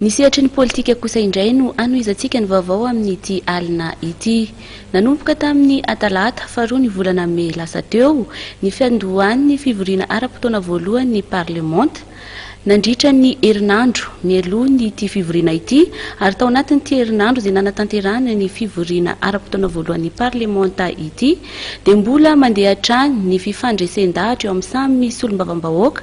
Ny sehatry ny politika kosa indray no hanohizantsika ny vaovao amin'ity alina ity. Nanomboka tamin'ny Atalata, faharoa ny volana Mey lasa teo, ny fiandohan'ny fivoriana ara-potoana voalohan'ny Parlemanta. Nandritra ny herinandro mialoha an'ity fivoriana ity ary tao anatin'ity herinandro izay nanatanterahana ny fivoriana ara-potoana voalohan'ny Parlemanta ity dia mbola mandeha hatrany ny fifandresen-dahatra eo amin'ny samy solombavambahoaka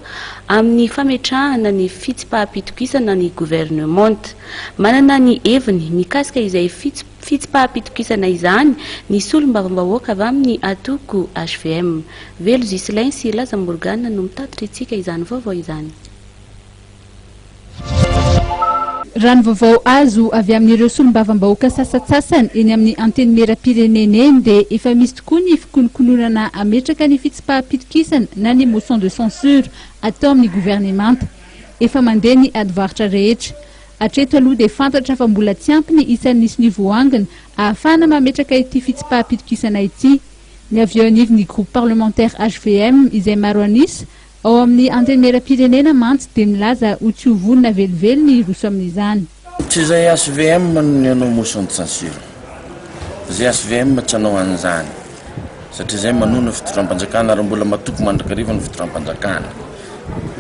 amin'ny fametrahana ny fitsipaham-pitokisana ny governemanta. Manana ny heviny mikasika izay fitsipaham-pitokisana izany ny solombavambahoaka avy amin'ny antoko hvm. Velo Ghislain sy Laza Morgane no mitatitra antsika izany vaovao izany. Raha ny vaovao azo avy amin'ireo solombavambahoaka sasantsasany eny amin'ny Antenimierampirenena eny dia efa misy tokoa ny fikonokononana hametraka ny fitsipaham-pitokisana na ny motion de censure atao amin'ny governemanta. Efa mandeha ny adivarotra rehetra. Hatreto aloha dia fantatra fa mbola tsy ampy ny isan'ny nisony voangona ahafahana mametraka ity fitsipaham-pitokisana ity. Ny avy eo anivon'ny groupe parlementaire hvm izay maro an'isa Ao amin'ny Antenimierampirenena mantsy dia milaza ho tsy ho vonona velively ny hiroso amin'izany. Tsy izay HVM no nihaino motion de censure. Izay HVM tsy hanao an'izany satria izay manohy ny fitondram-panjakana ary mbola matoky mandrakariva ny fitondram-panjakana.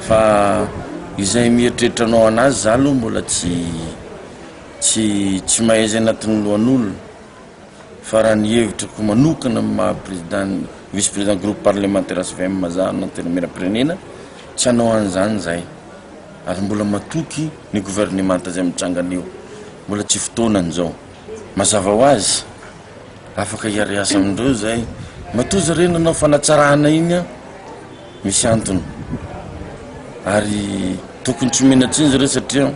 Fa izay mieritreritra hanao an'azy, izaho aloha mbola tsy tsy tsy mahay izay anatin'ny lohan'olona. Fa raha ny hevitrako manokana amin'ny maha président vice président groupe parlementaire svm za na antenimierampirenena tsy hanao an'izany izahay ary mbola matoky ny gouvernemanta izay mitranga anio mbola tsy fotoanany izao mazava ho azy afaka hiariasa amindreo izahay matoa zareo nanao fanatsarana iny an misy antony ary tokony tsy omena tsiny zareo satria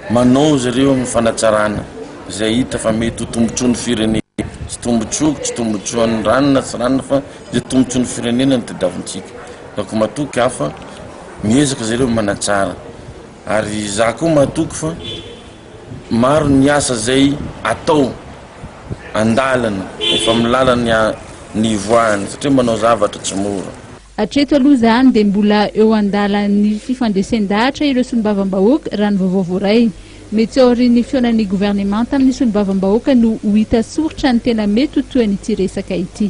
manao zareo amin'ny fanatsarana izay hita fa mety ho tombontsoa ny firenena tsy tombontsoako tsy tombontsoan'ny ranona tsy ranona fa izay tombontsoa ny firenena ny tadiavintsika ka ko matoky aho fa miezaka zareo manatsara ary za koa matoky fa Maro ny asa izay atao an-dalana, efa amin'ny lalany ny hivoahany satria manao zavatra tsy mora. Hatreto aloha izany dia mbola eo an-dalan'ny fifandresen-dahatra ireo solombavambahoaka raha ny vaovao voaray. Mety tsy aorian'ny fihaonan'ny governemanta amin'ny solombavambahoaka no ho hita soritra ny tena mety ho tohin'ity resaka ity.